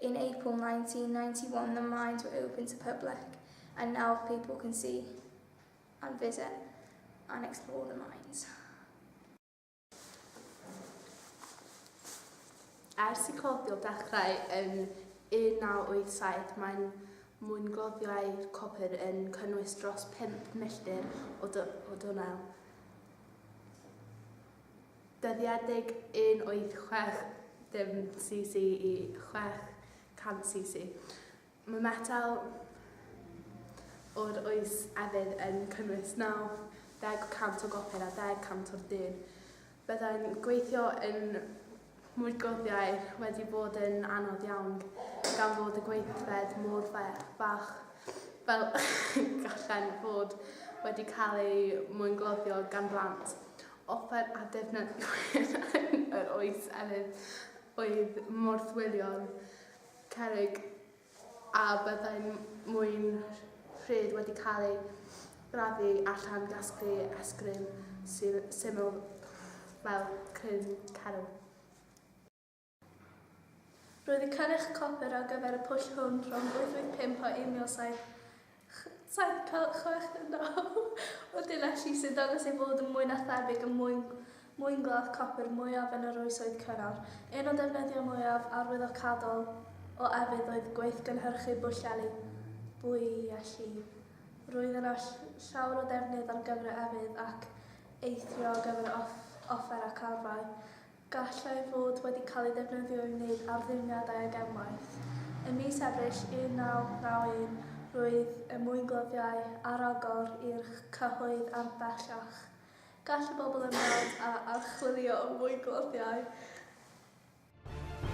In April 1991 the mines were open to public and now people can see and visit and explore the mines. Ers i cloddio dechrau yn 1987 mae'n mwyngloddiau copr yn cynnwys dros 5 milltir o, o dwnnel. dyddiedig 186 dim cc i 600 cc. Mae metel o'r oes efydd yn cynnwys 90% o gopr a 10% o'r dyn. Byddai'n gweithio yn mwy glofiau wedi bod yn anodd iawn gan fod y gweithfed mor fach fel gallen fod wedi cael ei mwyngloddio gan blant. offer a defnyddiwyd yn yr oes elyn oedd morthwylion cerrig a byddai'n mwyn rhydd wedi cael ei gladdu a llan-gasglu esgrym syml fel cryn cerwl. Roedd y cynnyrch copr ar gyfer y pwll hwn rhwng 885 a 1769 o Dinelli sy'n dangos ei fod yn mwy na thebyg yn mwyn mwynglaf copr mwyaf yn yr Oesoedd Cynnar. Un o ddefnyddiau mwyaf arwyddocadol o efydd oedd gweithgynhyrchu bwllheli, bwyelli. Roedd yna llawer o ddefnydd ar gyfer y efydd ac eithrio ar gyfer y offer ac arfau. gallai fod wedi cael ei ddefnyddio i wneud arddulliadau ag unwaith. Ym mis Ebrill 1991 roedd y mwynglofiau ar agor i'r cyhoedd ar bellach. Gall y bobl ymweld â archwilio mwynglofiau.